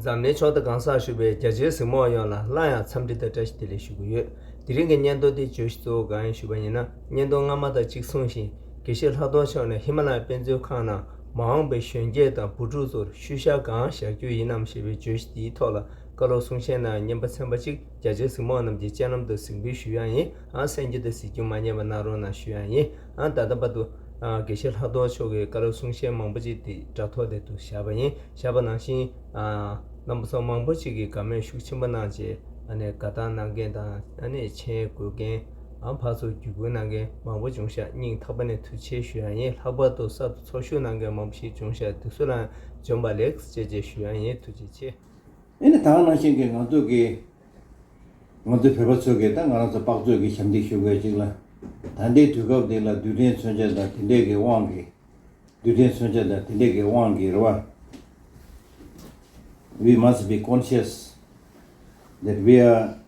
འཛམ་གླིང་ཕྱོགས་མཐའ་གང་སར་བཞུགས་པའི་རྒྱ་ཆེའི་གཟིགས་མོ་བ་ཡོངས་ལ་སླར་ཡང་འཚམས་འདྲི་དང་བཀྲ་ཤིས་བདེ་ལེགས་ཞུ་གི་ཡོད། དེ་རིང་གི་སྙན་ཐོ་འདིའི་བརྗོད་གཞི་གཙོ་བོ་གང་ཡིན་ཞུས་པ་ཡིན་ན་སྙན་ཐོ་སྔ་མ་དང་གཅིག་མཚུངས་བཞིན་དགེ་བཤེས་ལྷག་རྡོར་མཆོག་ནས་ཧི་མ་ལ་ཡའི་དཔེ་མཛོད་ཁང་ནང་མ་འོངས་པའི་གཞོན་སྐྱེས་དང་བུ་ཕྲུག་ཚོར་ཤུལ་བཞག་གང་བཞག་རྒྱུ་ཡིན་ནམ་ཞེས་པའི་བརྗོད་གཞི་དེའི་ཐོག་ལ་བཀའ་སློབ་གསུང་བཤད་གནང་ཡང་སྙན་པ་ཚན་པ་གཅིག་རྒྱ་ཆེའི་གཟིགས་མོ་རྣམས་ཀྱི་སྤྱན་ལམ་དུ་གཟིགས་འབུལ་ཞུས་ཡང་ཡིན་ཨང་སེམས་རྒྱུད་དུ་གཟིགས་རྒྱུ་མ་རྙེད་པ་ན་རོ་ན་ཞུས་ཡང་ཡིན་ཨང་ད་ལྟ་བར་དུ། དགེ་བཤེས་ལྷག་རྡོར་མཆོག་གིས་བཀའ་སློབ་གསུང་བཤད་མང་པོ་ཅིག་དེ་དྲ་ཐོག་དེ་དུ་བཞག་པ་ཡིན་བཞག་པ་ནང་བཞིན། རྣམ་པ་ཚོགས་མང་པོ་ཅིག་གིས་དགའ་མོས་ཤུགས་ཆེན་པོ་གནང་རྗེས། དགའ་དང་གནང་མཁན་དང་མཆན་འགོད་མཁན། ཨམ་བྷ་ཚོར་བརྒྱུད་སྐུལ་གནང་མཁན་མང་པོ་བྱུང་ཤག་སྙིང་ཐག་པ་ནས་ཐུགས་ཆེ་ཞུ་ཡང་ཡིན་ལྷག་པར་དུ་གསར་དུ་ཚོགས་ཞུགས་གནང་མཁན་མང་པོ་ཞིག་བྱུང་ཤག་སྡུག་སུ་ལའང་འཇོམས་པ་ལེགས་བཅས་བཅས་ཞུ་ཡང་ཡིན་ཐུགས་རྗེ་ཆེ། ཨེ་ནི་ད་ནང་བཞིན་གྱི་ང་ཚོ་གིས། ང་ཚོའི་བོད་པ་ཚོས་གིས་ད་ང་རང་ཚོ་དཔག་ཚོད་ཀྱིས་ཞབས་འདེགས་ཞུ་དགོས་ཅིག་ལ། ད་ལྟའི་དུས་སྐབས་འདི་ལ་རྡུལ་ཕྲན་མཚོན་ཆ་དང་དེ་འདྲས་ཀྱི་དབང་གིས། རྡུལ་ཕྲན་མཚོན་ཆ་དང་དེ་འདྲས་ཀྱི་དབང་གིས་རེད་བ། We must be conscious that we are།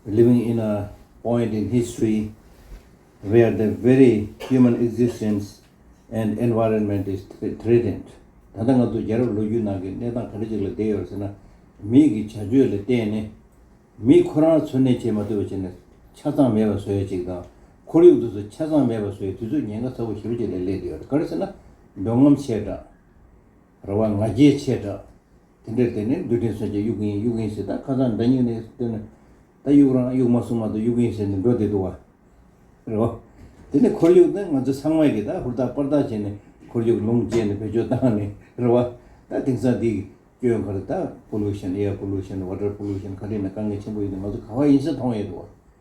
Living in a point in history where the very human existence and environment is threatened ད་ལྟ་ང་ཚོ་རྒྱལ་རབས་ལོ་རྒྱུས་ནང་གི་གནས་སྟངས་ག་འདྲ་ཞིག་ལ་བསྡད་ཡོད་ཟེར་ན། མིའི་གི་བྱ་སྤྱོད་ལ་བརྟེན་ནས། མིས་ཁོ་རང་འཚོ་གནས་བྱེད་མ་ཐུབ་པ་བྱས་ནས་ཆ་ཚང་མེད་པ་བཟོ་ཡ་ཅིག་དང། ཁོར་ཡུག་འདི་ཚོ་ཆ་ཚང་མེད་པ་བཟོ་ཡའི་དུས་ཚོད་ཉེན་ཁ་ཚ་བོ་ཞེ་པོ་ཅིག་ལ་སླེབས་བསྡད་ཡོད། ག་རེ་ཟེར་ན། འདོད་རྔམ་ཆེ་དྲགས། ར་བ་ང་རྒྱལ་ཆེ་དྲགས། དེ་འདྲའི་དེ་ནི་རྡུལ་ཕྲན་སོན་ཆ་དབྱུག་གིན་དབྱུག་གིན་ཟེར་ད་ཁ་སང་འདྲ་སྙིང་ནས་བསྟོད་ན། ད་དབྱུག་རང་དབྱུག་མ་སོང་མ་གཏོགས་དབྱུག་གིན་ཟེར་ནས་འགྲོ་བསྡད་འདུག་བ། རེད་བ། དེ་ནི་ཁོར་ཡུག་ནི་ང་ཚོས་ཚང་མས་ཀྱིས་ད་ཧུར་ཐག་པར་ཐག་བྱས་ནས་ཁོར་ཡུག་ལུང་བཅད་ནས་བེད་སྤྱོད་བཏང་ནས་རེད་བ། ད་དེང་སང་འདི་སྐྱོན་ག་རེ་ད Pollution Air Pollution Water Pollution ག་རེ་ཡིན་ན་དཀའ་ངལ་ཆེན་པོ་ཡིན་ན་ང་ཚོ་ག་བ་ཡིན་ས་མཐོང་ཡོད་འདུག་བ།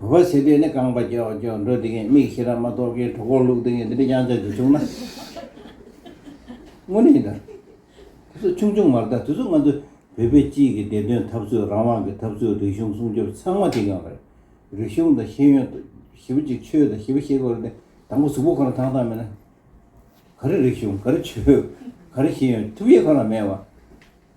བོད་པ་ཞེས་དེ་ནི་རྐང་པ་ཀྱོག་ཀྱོག་འགྲོ་དེ་ངས་མིག་ཤེས་ར་མ་གཏོགས་ཀའི་གྲོགས་པོར་ལུག་དེ་ངས་འདི་འདྲའི་དབྱངས་ཅན་དེ་བྱུང་ན། དངོས་གནས་ཡིན་ད། དེ་ཚོ་ཆུང་ཆུང་མ་རེད་ད་དེ་ཚོ་ང་ཚོ་བོད་པའི་སྤྱི་ཡི་བདེན་དོན་འཐབ་རྩོད་རང་དབང་གི་འཐབ་རྩོད་རིག་གཞུང་སྲུང་སྐྱོབ་ཚང་མ་བྱེད་མཁན་རེད། རིག་གཞུང་དང་ཤེས་ཡོན་ཞེ་པོ་ཅིག་ཆོས་དང་ཞེ་པོ་ཤེས་དགོས་རེད་དེ་དང་པོ་གཟུགས་པོ་ཁོ་ན་ཐང་ཐང་མེད་ན། ག་རེ་རིག་གཞུང་ག་རེ་ཆོས་ག་རེ་ཤེས་ཡོན་ཐུབ་ཡས་ཁོ་ན་མེད་བ།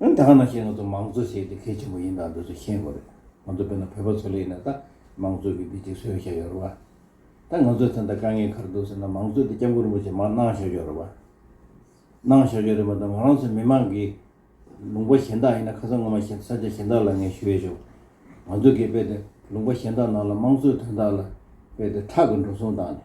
ཨང་གྲངས་ནང་བཞིན་ང་ཚོ་མང་གཙོ་བྱེད་དེ་གལ་ཆེན་པོ་ཡིན་ད་འདི་ཚོ་ཤེས་དགོས་རེད་ང་ཚོ་དཔེར་ན་བོད་པ་ཚོ་ལས་ནས་ད་མང་གཙོ་གི་འདི་གཅིག་བཟོས་བཞག་ཡོད་རེད་བ། ད་ང་ཚོ་ཚེ་འདི་དཀའ་ངལ་ཁར་འདུག་ཟེར་ན་མང་གཙོ་འདི་སྐྱབས་མགོན་རིན་པོ་ཆེས་མར་གནང་བཞག་ཡོད་རེད་བ། གནང་བཞག་ཡོད་རེད་མ་ད་ང་རང་ཚོ་མི་མང་གི་ལུང་པ་གཞན་དག་ཡིན་ན་ཁ་སང་ངོ་མ་ཤེས་ས་ཆ་གཞན་དག་ལ་ངས་ཞུ་ཡས་བྱུང། ང་ཚོ་གིས་དཔེ་དེ་ལུང་པ་གཞན་དག་ནང་ལ་མང་གཙོའི་དོན་དག་ལ་དཔེ་དེ་ཁྲག་གི་འགྲོ་སོང་བཏང་ནས།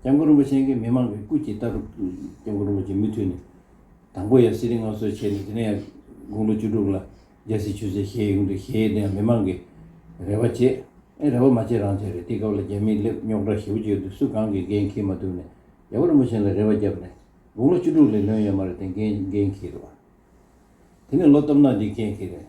སྐྱབས་མགོན་རིན་པོ་ཆེན་གྱིས་མི་མང་གི་སྐུ་གཅིག་ལྟ་རུ། སྐྱབས་མགོན་རིན་པོ་ཆེ་མུ་མཐུད་ནས་དང་པོ་ཡང་གསེར་རི་མངའ་གསོལ་བྱས་ནས་དེ་ནས་ཡང་དགུང་ལོ་བཅུ་དྲུག་ལ་རྒྱལ་སྲིད་ཆོས་སྲིད་ཞེས་ཡོང་དུས་གཞལ་ཡས་དེ་ཡང་མི་མང་གིས་རེ་བ་བྱས། ཨེ་རེ་བ་མ་བྱས་རང་བྱས་རེད་དེའི་སྐབས་ལ་རྒྱ་མིའི་སླེབས་རྙོག་དྲ་ཞེ་བོ་ཅིག་ཡོད་དུས་སུ་གང་གིས་འགན་འཁྱེར་མ་ཐུབ་ནས་རྒྱལ་པོ་རིན་པོ་ཆེན་ལ་རེ་བ་བརྒྱབ་ནས་དགུང་ལོ་བཅུ་དྲུག་ལས་ལོན་ཡོད་མ་རེད་དེ་འགན་འཁྱེར་བ་དེ་ནི་ལོ་སྟོབས་ནག་འདིས་འགན་འཁྱེར་རེད།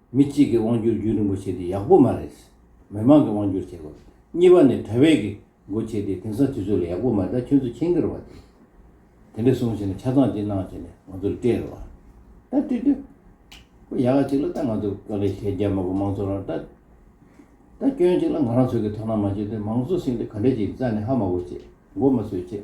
མི་གཅིག་གི་དབང་སྒྱུར་རྒྱུན་རིང་པོ་བྱས་ཏེ་ཡག་པོ་མ་རེད། མི་མང་གི་དབང་སྒྱུར་བྱེད་དགོས། གཉིས་པ་ནི་དོལ་བྷེད་ཀྱི་མགོ་བྱས་ཏེ་དེང་སང་དུས་ཚོད་ལ་ཡག་པོ་མ་རེད་ད་ཁྱོད་ཚོ་ཁྱེད་འགྱུར་བ་དེ། དེ་འདྲ་གསུངས་བྱས་ནས་ཆ་ཚང་དེ་གནང་བྱས་ནས་ང་ཚོ་ལ་སྤྲད་རོགས། ད་ལྟོས་དོན། ཁོ་ཡག་གཅིག་ལ་ད་ང་ཚོ་ག་རེ་བྱས་རྒྱ་མ་པོ་མང་ཚོགས་རང་ད། ད་སྐྱོན་གཅིག་ལ་ང་རང་ཚོ་གི་དོ་སྣང་མ་བྱས་དོན་མང་གསོ་སྲིང་དེ་ག་འདྲ་བྱས་རྩ་ནས་ཧ་མ་གོ་བྱས་མགོ་མ་སོས་བྱས།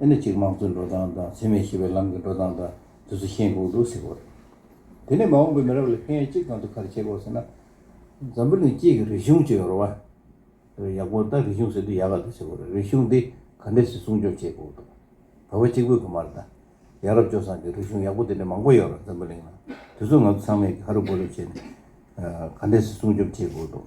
ཨེ་ནི་ཅིག་དམངས་གཙོའི་འགྲོ་སྟངས་དང་འཚེ་མེད་ཞི་བའི་ལམ་གྱི་འགྲོ་སྟངས་དག་དུས་ཚོད་ཤེས་འགོག་འདུག་ཟེར་བ་རེད། དེ་ནས་མ་འོངས་པའི་མི་རབས་ལ་ཕན་ཡོན་ཅི་གང་དུ་ཁར་བྱེད་དགོས་ཟེར་ན། འཛམ་བུ་གླིང་སྤྱི་གི་རིག་གཞུང་ཅེས་ཡོད་རེད་བ། ཡག་པོ་ད་རིག་གཞུང་ཟེར་དུས་ཡག་ག་ལ་བྱེད་དགོས་རེད་རིག་གཞུང་འདི་ག་འདྲས་སུ་སྲུང་སྐྱོབ་བྱེད་དགོས་འདུག་བོད་པ་གཅིག་པོས་གོ་མ་རེད་ད། ཡག་རབ་སྤྱོ་བཟང་གི་རིག་གཞུང་ཡག་པོ་དེ་འདྲས་མང་པོ་ཡོད་རེད་འཛམ་བུ་གླིང་ན་དུས་ཚོད་ང་ཚོ་ཚང་མས་ཀྱི་ཧ་རུ་ཧྥུ་རུ་བྱས་ནས་ག་འདྲས་སུ་སྲུང་སྐྱོབ་བྱེད་དགོས་འདུག།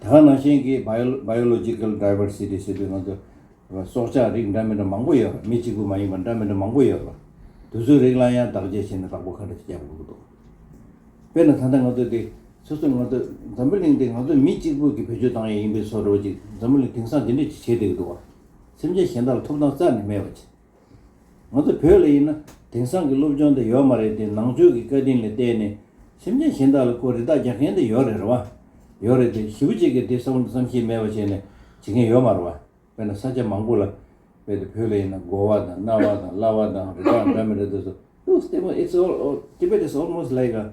དེ་སྔ་ནང་བཞིན་གྱི Biological Diversity ཞེས་པའི་ནང་དུ། སྲོག་ཆགས་རིགས་འདྲ་མི་འདྲ་མང་པོ་ཡོད་པ། མི་གཅིག་པུ་མ་ཡིན་པར་འདྲ་མི་འདྲ་མང་པོ་ཡོད་པ། དུས་ཚོད་རིགས་ལ་ཡང་བདག་གཅེས་བྱས་ནས་བདག་པོ་ཁ་འདྲ་ཞིག་རྒྱག་དགོས་ཀྱི་འདུག་དཔེར་ན་ད་ལྟ་ང་ཚོ་འདི། སོ་སོ་ང་ཚོ་འཛམ་བུ་གླིང་འདི་ང་ཚོ་མི་གཅིག་པུ་གྱི་བེད་སྤྱོད་བཏང་ཡས་ཡིན་པས་སོ་འདྲ་བ་ཅིག་འཛམ་བུ་གླིང་དེང་སང་འདི་འདྲ་ཅིག་བྱས་བསྡད་ཀྱི་འདུག་བ། སེམས་ཅན་གཞན་དག་ལ་ཐོབ་ཐང་རྩ་ནས་མེད་པ་ཅིག། ང་ཚོ་བོད་ལ་ཡིན་ན་དེང་སང་གི་སློབ་སྦྱོང་དེ་ཡོད་མ་རེད་དེ་ནང་ཆོས་ཀྱི་བཀའ་དྲིན་ལས་བལྟས་ནས་སེམས་ཅན་གཞན་དག་ལ་ཀོ་རི་དག་རྒྱག་མཁན་དེ་ཡོད་རེད་བ། ཡོད་རེད་དེ་གཞི་བུ་གཅིག་གིས་དེ་བསམ་བློ་བསམ་ཤེས་མེད་པ་བྱས་ནས་བྱེད་མཁན་ཡོད་མ་རེད་བ། དཔེར་ན་ས་ཆ་མང་པོ་ལ་དཔེ་དེ་བོད་ལ་ཡིན་ན་མགོ་བ་དང་རྣ་བ་དང་བརླ་བ་དང་རེ་དྭགས་འདྲ་མི་རེད་དོ་ཟེར། Looks Tamil It's all All Tibet is almost like a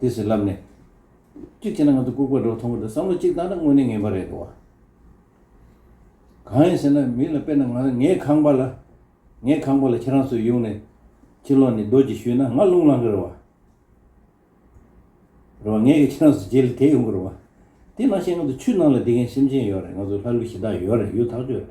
དེ་ཟེར་ལབ་ནས། གཅིག་བྱས་ན་ང་ཚོ་ལྐུག་པ་འདྲ་བོ་མཐོང་གི་འདུག་བསམ་བློ་གཅིག་བཏང་ན་དངོས་གནས་ངན་པ་རེད་འདུག་གང་ཡིན་ཟེར་ན་མི་ལ་དཔེར་ན་ང་རང་ངའི་ཁང་པ་ལ། ངའི་ཁང་པ་ལ་ཁྱེད་རང་ཚོས་གཡུག་ནས། ཕྱི་ལོག་ནས་རྡོ་རྗེ་བཞུས་ན་ང་རླུང་བསླང་གི་རེད་བ། རེད་བ། ངས་ཀྱང་ཁྱེད་རང་ཚོ་རྗེས་ལ་དེད་ཡོང་གི་རེད་བ། དེ་ནང་བཞིན་ང་ཚོ་ཆུ་ནང་ལ་འདི་གའི་སེམས་ཅན་ཡོད་རེད་ང་ཚོ་ལྷ་ཀླུ་གཞི་བདག་ཡོད་རེད་ཡོད་ཐག་ཆོད་རེད།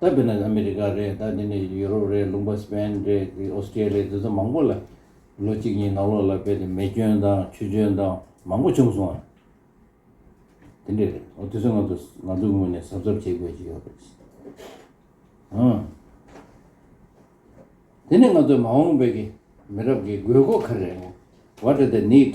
ད་བོད་ནས་ཨ་མི་རི་ཀ་རེད་ད་འདི་ནས་ཡུ་རོབ་རེད་ལུང་པ་སི་པན་རེད་འདི་ཨོ་སི་ཀྲི་ལི་འདི་ཚོ་མང་པོ་ལ་ལོ་གཅིག་གཉིས་ནང་ལོགས་ལ་བལ་དེ་མེ་སྐྱོན་དང་ཆུ་སྐྱོན་དང་མང་པོ་བྱུང་སོང་ཨ། དེ་འདྲས་རེད་འོ་དེ་ཚོ་ང་ཚོ་ང་ཚོ་ངོས་ནས་གཟབ་གཟབ་བྱེད་དགོས་ཀྱི་ཡོད་རེད། ཨང། དེ་ནས་ང་ཚོ་མ་འོངས་བོད་ཀྱི་མི་རབས་ཀྱི་དགོས་མཁོ་ག་རེད་བ་ཏྲ་ཏི་ནིད།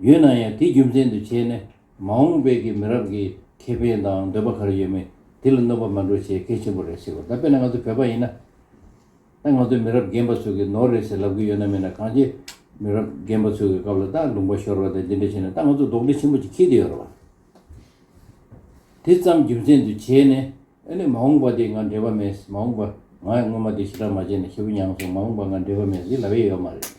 ཡོད་ན་ཡང་དེ་རྒྱུ་མཚན་དུ་བྱས་ནས་མ་འོངས་པའི་གི་མི་རབས་ཀྱི་ཁེ་ཕན་དང་འདོད་པ་གར་ཡོད་མེད་དེ་ལ་གནོད་པ་མ་འགྲོ་བྱེད་གལ་ཆེན་པོ་རེད་ཟེར་བ་ད་དཔེར་ན་ང་ཚོ་བོད་པ་ཡིན་ན་ད་ང་ཚོའི་མི་རབས་རྒན་པ་ཚོ་གི་ནོར་རེད་ཟེར་ལབ་གི་ཡོད་ན་མེད་ན་གངས་ཅན་མི་རབས་རྒན་པ་ཚོ་གི་སྐབས་ལ་ད་ལུང་པ་ཤོར་བ་དང་འདི་འདྲ་བྱས་ན་ད་ང་ཚོ་རྡོག་འདྲེ་ཆེན་པོ་ཅིག་འཁྱིལ་དུ་ཡོད་རེད་བ། དེ་ཙམ་རྒྱུ་མཚན་དུ་བྱས་ནས་ཨ་ནི་མ་འོངས་པ་དེ་ང་འབྲེལ་བ་མེད་མ་འོངས་པ་ང་སྔོན་མ་དེ་ཞེ་དྲག་མ་བྱས་ན་ཞེ་པོ་མྱངས་སོང་མ་འོངས་པ་ང་འབྲེལ་བ་མེད་ཟེར་ལབ་ཡས་ཡོད་མ་རེད།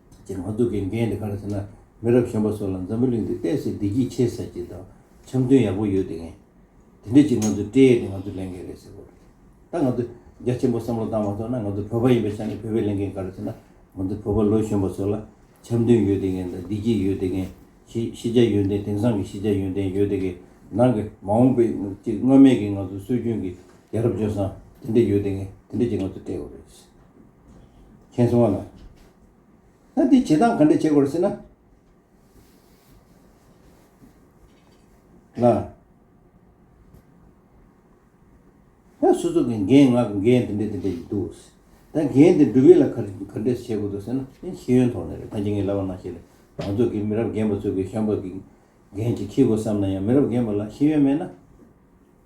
ཅེས་མ་སྡུག་གི་འགན་འདི་ག་ལ་བྱེད་ན་མི་རབས་གཞོན་པ་ཚོ་ལ་འཛམ་བུ་གླིང་འདི་བལྟས་ཚེ་བདེ་སྐྱིད་ཆེ་ཟེར་གྱི་འདུག་འཆམ་མཐུན་ཡག་པོ་ཡོད་དེ་ངས་དེ་འདྲས་ཅིག་ང་ཚོས་སྤྲད་དེ་ང་ཚོས་ལེན་མཁན་རེད་ཟེར་དགོས་རེད། ད་ང་ཚོས་རྒྱ་ཆེན་པོ་བསམ་བློ་བཏང་མ་ཐུབ་ན་ང་ཚོ་བོད་པ་ཡིན་པའི་ཆ་ནས་བོད་པས་ལེན་མཁན་ག་ལ་བྱེད་ན་ང་ཚོ་བོད་པ་ལོ་གཞོན་པ་ཚོ་ལ་འཆམ་མཐུན་ཡོད་དེ་གན་དང་བདེ་སྐྱིད་ཡོད་དེ་གན་ཤེས་བྱ་ཡོན་ཏན་དེང་སང་གི་ཤེས་བྱ་ཡོན་ཏན་ཡོད་དེ་གན་ནང་གི་མ་འོངས་པའི་ཅིག་སྔོན་མེད་ཀྱི་ང་ཚོ་སྲོལ་རྒྱུན་གྱི་ཡ་རབས་ལྗོན་བཟང་དེ་འདྲས་ཡོད་དེ་གན་དེ་འདྲས་ཅིག་ང་ཚོས་སྤྲད་དགོས་རེད། མཁྱེན་གསུང་བ་ལ། ད་འདི་བྱེད་སྟངས་ག་འདྲས་བྱེད་དགོས་ཟེར་ན། ལ། ད་སུ་སུ་གི་འགན་ང་གི་འགན་དེ་འདྲས་དེ་འདྲས་ཡིན་འདུག། ད་འགན་དེ་འགྲུབ་ཡས་ལ་ག་ག་འདྲས་བྱེད་དགོས་འདུག་ཟེར་ན་དེ་ཤེས་ཡོན་ཐོག་ནས་རེད་ད་འཇིག་ངེས་ལབ་པ་ན་ཞིག་རེད་མང་ཚོགས་ཀྱི་མི་རབས་རྒན་པ་ཚོས་གི་ཤམ་པ་གི་འགན་ཅིག་འཁྱེར་དགོས་བསམ་ན་ཡང་མི་རབས་རྒན་པ་ལ་ཤེས་ཡོན་མེད་ན།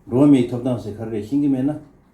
འགྲོ་བ་མིའི་ཐོབ་ཐང་ཟེར་ག་རེ་རེད་ཤེས་ཀྱི་མེད་ན།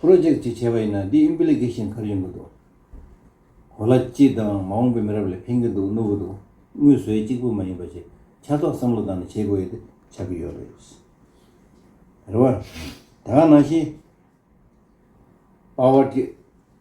Project། ཅེས་བྱ་བ་ཡིན་ན་འདི Implication ག་རེ་ཡིན་གྱི་འདུག་གོ་ལ་སྤྱི་དང་མ་འོངས་པའི་མི་རབས་ལ་ཕན་གྱི་འདུག་གནོད་གྱི་འདུག་དངུལ་ཟོས་གཅིག་པུ་མ་ཡིན་པ་ཞིག་ཆ་ཚོགས་བསམ་བློ་བཏང་ནས་བྱེད་དགོས་ཡོད་དེ་ཆགས་ཀྱི་ཡོད་རེད། རེ་བ། ད་ག་ནང་བཞིན། Power།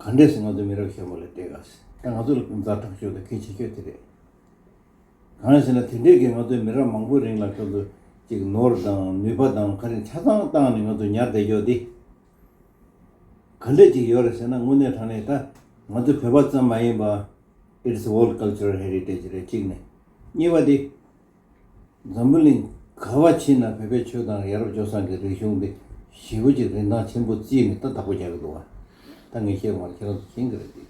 ག་འདྲས་སུ་ང་ཚོ་མི་རབས་ཞོགས་པ་ལ་བལྟས་དགའ་སྲིད་ད་ང་ཚོ་ལ་ཀུན་བརྟགས་དྲག་ཤོས་དང་གལ་ཆེ་ཤོས་དེ་རེད། གང་ཡིན་ཟེར་ན་དེ་འདྲས་ཀྱིས་ང་ཚོའི་མི་རབས་མང་པོའི་རིང་ལ་ཁྱོད་ཚོ་ཅིག་ནོར་དང་ནུས་པ་དང་ཁ་རིང་ཆ་ཚང་བཏང་ནས་ང་ཚོ་ཉར་བསྡད་རྒྱོ་དེ། ག་འདྲས་ཅིག་ཡོད་རེད་ཟེར་ན་དངོས་གནས་དྲང་གནས་ད་ང་ཚོ་བོད་པ་ཙམ་མ་ཡིན་པ། It's World Cultural Heritage རེད་གཅིག་ནས། གཉིས་པ་དེ། འཛམ་བུ་གླིང་ག་བ་ཕྱི་ན་བོད་པའི་ཆོས་དང་ཡ་རབས་ཇོ་སང་གི་རིག་གཞུང་འདི་ཞི་བོ་ཅིག་རིན་ཐང་ཆེན་པོ་རྩིས་ནས་ད་དག་པོ་རྒྱག་གི་འདུག་ད་ངས་བཤད་དགོངས་བ་ཁྱེད་རང་ཚོ་མཁྱེན་གི་རེད་དེ།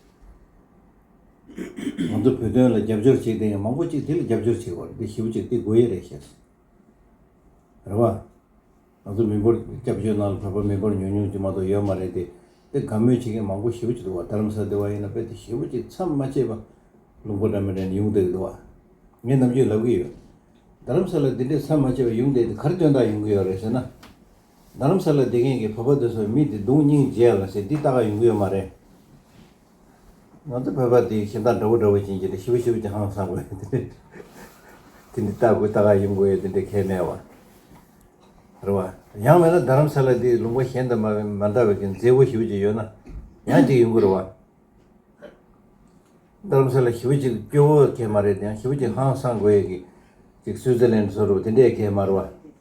ང་ཚོ་བོད་དོན་ལ་རྒྱབ་སྐྱོར་བྱེད་དེ་ཡང་མང་པོ་ཅིག་དེ་ལ་རྒྱབ་སྐྱོར་བྱེད་དགོས་རེད་དེ་ཞི་བོ་ཅིག་དེ་དགོས་ཡས་རེད་ཤེས་སོང། རེད་བ། ང་ཚོ་མི་འབོར་སྐྱབས་བཅོལ་ནང་ལ་བོད་པ་མི་འབོར་ཉུང་ཉུང་དེ་མ་གཏོགས་ཡོད་མ་རེད་དེ། དེ་དགའ་མོས་བྱེད་མཁན་མང་པོ་ཞེ་བོ་ཅིག་འདུག་བ་དྷརམ་ས་དེ་བ་ཡིན་ན་དཔེ་དེ་ཞེ་བོ་ཅིག་མཚམས་མ་ཆད་པ་ལུང་པ་འདྲ་མི་འདྲ་ནས་ཡུང་བསྡད་ཀྱི་འདུག་བ། ངས་ནམ་རྒྱུན་ལབ་ཀྱི་ཡོད། དྷརམ་ས་ལ་དེ་འདྲའི་མཚམས་མ་ཆད་པ་ཡུང་བསྡད་དེ་གར་སྟོན་ཐག་ཡོང་གི་ཡོད་རེད་ཟེར་ན། དྷརམ་ས་ལ་བསྡད་མཁན་གྱི་བོད་པ་དེ་ཚོ་མི་དེ་གདུང་སྙིང་རྗེ་ཡ་ལ་ཟེར་འདི་ལྟ་ག་ཡོང་གི་ཡོད་མ་རེད། ང་ཚོ་བོད་པ་དེ་ཞེ་སྡང་དྲ་བོ་དྲ་བོ་བྱིན་གྱིས་འདི་ཤི་བོ་ཤི་བོ་ཅི་ཧང་སང་དགོས་ཡོད་དེ། དེ་འདི་ལྟ་དགོས་ལྟ་ག་ཡིན་དགོས་ཡོད་དེ་འདྲའི་ཁས་མེད་བར། རེད་བ། ཡང་མེད་ན་རྡ་རམ་ས་ལ་དེའི་ལུང་པ་གཞན་དུ་མ་མ་འདྲ་བའི་གི་མཛེས་བོ་ཞི་བོ་ཅིག་ཡོད་ན་ཡང་ཅིག་ཡིན་དགོས་རེད་བ། རྡ་རམ་ས་ལ་ཞི་བོ་ཅིག་སྐྱོ་བོ་ཁས་མ་རེད་དེ་ཡང་ཞི་བོ་ཅིག་ཧང་སང་དགོས་ཡོད་གི་ཅིག་སུའི་ཛི་ལན་དུ་སོ་རུ་བ་དེ་འདྲའི་ཁས་མ་རེད་བ།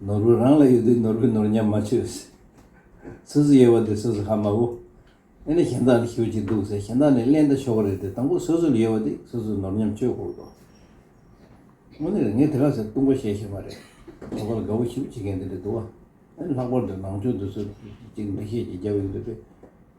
ནོར་བུ་རང་ལ་ཡོད་དུས་ནོར་བུའི་ནོར་ཉམས་མ་ཆོད། སུ་སུ་ཡོད་པ་དེ་སུ་སུ་ཧ་མ་བོ། ཨེ་ནི་གཞན་དག་ནི་ཞུ་གཅིག་འདུག་ཟེར་གཞན་དག་ནི་གླེན་ད་ཆོག་གི་རེད་དེ་དང་པོ་སུ་སུ་ལ་ཡོད་པ་དེ་སུ་སུ་ནོར་ཉམས་ཆོད་དགོས་དོ། དངོས་གནས་རེད་ངས་དེ་ག་ཟེར་ལྟུང་བ་བཤད་ཤེས་མ་རེད། ལྷག་པར་དགའ་བོ་ཞིབ་བྱེད་མཁན་དེ་རེད་འདུག་བ། ཨེ་ནི་ལྷག་པར་དུ་ནང་ཆོས་འདི་ཚོ་གཅིག་འགྲེལ་བཤད་ཀྱི་རྒྱབ་ཡོད་འདུག་པས།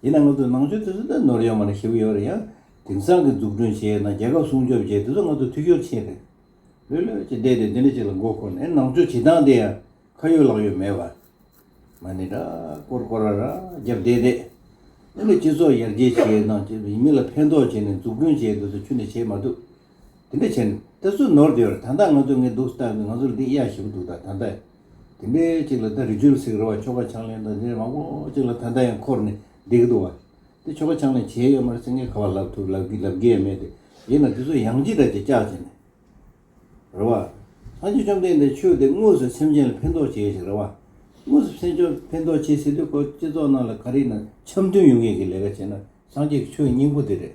ཡིན་ནའང་ང་ཚོས་ནང་ཆོས་དེ་ཚོ་ནི་ནོར་ཡོད་མ་རེད་ཞེས་པ་ཡོད་རེད་ཡང། དེང་སང་གི་འཛུགས་སྐྲུན་བྱས་ན་རྒྱལ་ཁབ་སྲུང་སྐྱོབ་བྱས་དེ་ཚོ་ང་ཚོ་འཐུས་ཤོར་ཕྱིན་རེད། ལུས་ལོད་ཀྱིས་བསྡད་དེ་འདི་འདྲ་ཅིག་ལ་མགོ་འཁོར་ནས་ནང་ཆོས་བྱེད་སྟངས་དེ་ཡང་ཁ་ཡོད་ལག་ཡོད་མེད་པར། མ་ནི་ར་སྐོར་སྐོར་ར་ར་བརྒྱབ་བསྡད་བསྡད། འདི་ལོ་སྤྱི་ཚོགས་ཡར་རྒྱས་བྱས་ནང་ཆོས་ཡིན་མིན་ལ་ཕན་ཐོགས་བྱས་ནས་འཛུགས་སྐྲུན་བྱས་དེ་ཚོ་ཆུ་ནས་བྱེད་མ་ཐུབ། དེ་འདྲ་བྱས་ནས་དེ་ཚོ་ནོར་དེ་ཡོད་རེད་ད་ལྟ་ང་ཚོ་ངས་འདུག་སྟངས་འདི་ང་ཚོ་ལ་འདི་གཡའ་ཞིག་པོ་འདུག་ད་ད་ལྟ། དེ་འདྲའི་གཅིག་ལ་ད་རི་ཆུ་ལ་སིག་ར་བ་ཆོ་ག་ཆང་ལེན་དང་དེ་འདྲའི་མང་པོ་གཅིག་ལ་ད་ལྟ་ཡང་འཁོར་ནས་བསྡད་ཀྱི་འདུག་བ། དེ་ཆོ་ག་ཆང་ལེན་བྱས་ཡོད་མ་རེད་ཟེར་ངས་ག་བ་ལབ་ཐུབ་ལབ་དགོས་ཡས་མེད་དེ། ཡིན་ན་དེ་ཚོ་ཡང་ཅི་ལྟར་བྱས་བཅག་བྱས་ནས་རེད་བ། སངས་རྒྱས་བཅོམ་ལྡན་འདས་ཆོས་དེ་དངོས་སུ་སེམས་ཅན་ལ་ཕན་ཐོགས་བྱེད་ཞིག་རེད་བ། དངོས་སུ་སེམས་ཅན་ཕན་ཐོགས་བྱེད་སྲིད་དུས་ཁོ་སྤྱི་ཚོགས་ནང་ལ་ག་རེ་ཡིན་ན་འཆམ་མཐུན་ཡོང་ངེས་ཀྱི་ལས་ཀ་བྱས་ན་སངས་རྒྱས་ཀྱི་ཆོས་སྙིང་པོ་དེ་རེད།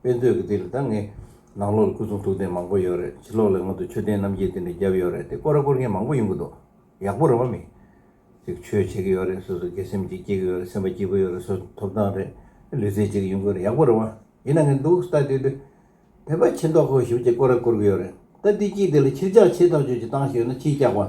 དཔེ་མཛོད་ཀྱི་དེ་རེད་ད་ངས། ནང་ལོགས་ལ་སྐུ་གསུང་ཐུགས་རྟེན་མང་པོ་ཡོད་རེད་ཕྱི་ལོགས་ལ་སྔོན་དུ་མཆོད་རྟེན་རྣམ་རྒྱལ་དེ་འདྲ་བརྒྱབ་ཡོད་རེད་དེ་བསྐོར་ར་བསྐོར་མཁན་མང་པོ་ཡོང་གི་འདུག་ཡག་པོ་རེད་བ་མི། ཅིག་ཆོས་བྱེད་ཀྱི་ཡོད་རེད་སོ་སོ་དགེ་སེམས་ཅིག་སྐྱེ་གི་ཡོད་རེད་སེམས་པ་སྐྱིད་པོ་ཡོད་རེད་སོ་སོ་ཐོབ་ཐང་རེད་ལུས་རྩལ་བྱེད་ཀྱི་ཡོང་གི་རེད་ཡག་པོ་རེད་བ། ཡིན་ན་ངས་འདུག་ལྟ་དེ་དེ། དེ་པ་ཆེ་མདོག་ཁོ་ཞིབ་ཅིག་བསྐོར་ར་བསྐོར་གི་ཡོད་རེད་ལྟ་དེ་གཅིག་དེ་ལ་ཕྱིར་འཇགས་བྱེད་ཐག་གཅོད་ཅིག་བཏང་ཞིག་ཡོད་ན་ཕྱིའི་སྐྱག་བ།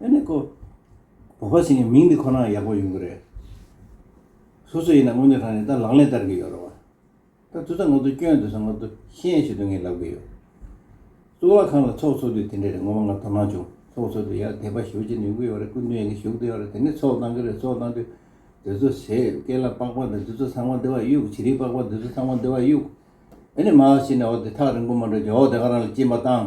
ཨེ་ནས་ཀོ། བོད་པ་ཟེར་མཁན་མིང་འདི་ཁོ་ནའང་ཡག་པོ་ཡོང་གི་རེད། སོ་སོ་ཡིན་ན་སྔོན་འདོད་ཁང་ནས་ད་ལག་ལེན་བསྟར་གི་ཡོད་རེད་བ། ད་དུས་ད་ངོ་ཚོ་སྐྱོན་འདོད་ས་ངོ་ཚོ་ཤེས་ཡ་ཞིག་འདོད་ངེས་ལབ་གི་ཡོད། གཙུག་ལག་ཁང་ལ་ཚོགས་ཚོགས་དུས་དེ་འདྲས་རེད་ངོ་མ་ང་དོ་སྣང་བྱུང་ཚོགས་ཚོགས་དུས་ཡར་དེད་པ་ཞོ་ཅིག་ནས་ཡོང་གི་ཡོད་རེད་སྐུ་མདུན་ཡང་གི་བཞུགས་དུས་ཡོད་རེད་དེ་ནས་ཚོགས་གཏང་གི་རེད་ཚོགས་གཏང་དུས་དེ་ཚོ་ཟས་སྐལ་ལ་པགས་པ་འདི་དེ་ཚོ་ཚང་མ་འདི་བ་གཡུག་བྱི་རིལ་པགས་པ་འདི་ཚོ་ཚང་མ་འདི་བ་གཡུག། དེ་ནས་མ་ཧ་ཤི་ནས་འོ་དེ་ཐག་རིང་པོ་མ་འགྲོ་རྗེས་འོ་དེ་ག་རང་ལ་སྐྱིན་པ་བཏང།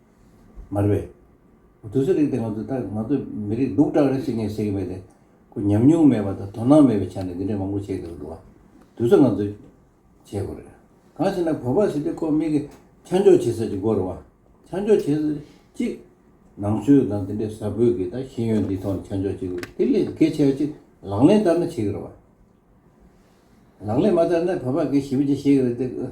མ་རེད་པས། དུས་ཚོད་རིང་སྟེ་ང་ཚོས་ད་ང་ཚོས་མི་རིགས་སྡུག་དྲག་རེད་ཟེར་མཁན་བྱེད་ཀྱི་མེད་དེ། ཁོ་ཉམས་མྱོང་མེད་པ་དང་དོ་སྣང་མེད་པའི་ཆ་ནས་འདི་འདྲས་མང་པོ་བྱེད་འདོད་པ་འདུག་དུས་ཚོད་ང་ཚོས་བྱེད་དགོས་རེད། གང་ཞིག་ན་བོད་པ་ཞིག་སྟེ་ཁོ་མིག་གིས་ཆ་འཇོག་བྱེད་ས་ཅིག་དགོས་རེད་བ། ཆ་འཇོག་བྱེད་ས་གཅིག། ནང་ཆོས་དང་དེ་འདྲས་ས་བོད་ཀྱི་ད་ཤེས་ཡོན་འདིའི་ཐོག་ནས་ཆ་འཇོག་བྱེད་དགོས་དེ་ལས་གལ་ཆེ་བ་གཅིག་ལག་ལེན་བསྟར་ན་བྱེད་ཀྱི་རེད་བ། ལག་ལེན་མ་བསྟར་ན་བོད་པ་གས་ཞིབ་ཅིག་བྱེད་ཀྱི་རེད་དེ།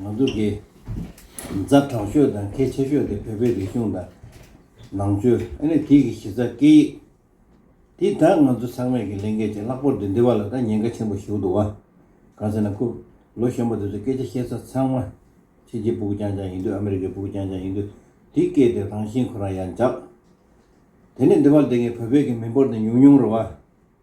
ང་ཚོ་གི་མཛའ་གྲོགས་ཤོས་དང་གལ་ཆེ་ཤོས་དེ་བོད་པའི་རིག་གཞུང་དང་ནང་ཆོས་ཨ་ནི་དེ་གི་གཞི་རྩ་སྐད་ཡིག་དེ་དག་ང་ཚོ་ཚང་མས་གི་ལས་འགལ་ཅིག་ལྷག་པོར་དེ་འདི་བ་ལ་ད་ཉེན་ཁ་ཆེན་པོ་ཞུགས་འདུག་བ། གང་ཟེར་ན་ཁུ་ལོ་གཞོན་པ་དེ་ཚོ་སྐད་ཆ་བཤད་ས་ཚང་མ་ཕྱི་རྒྱལ་པུག་ཀྱང་ཀྱང་ཡིན་དུས་ཨ་མི་རི་ཀའི་པུག་ཀྱང་ཀྱང་ཡིན་དུས་དེ་སྐད་དེ་རང་བཞིན་ཁོ་རང་ཡང་འཇགས། དེ་ནི་འདི་བ་ལ་དེ་གི་བོད་པའི་གི་མི་འབོར་དེ་ཉུང་ཉུང་རུ་བ།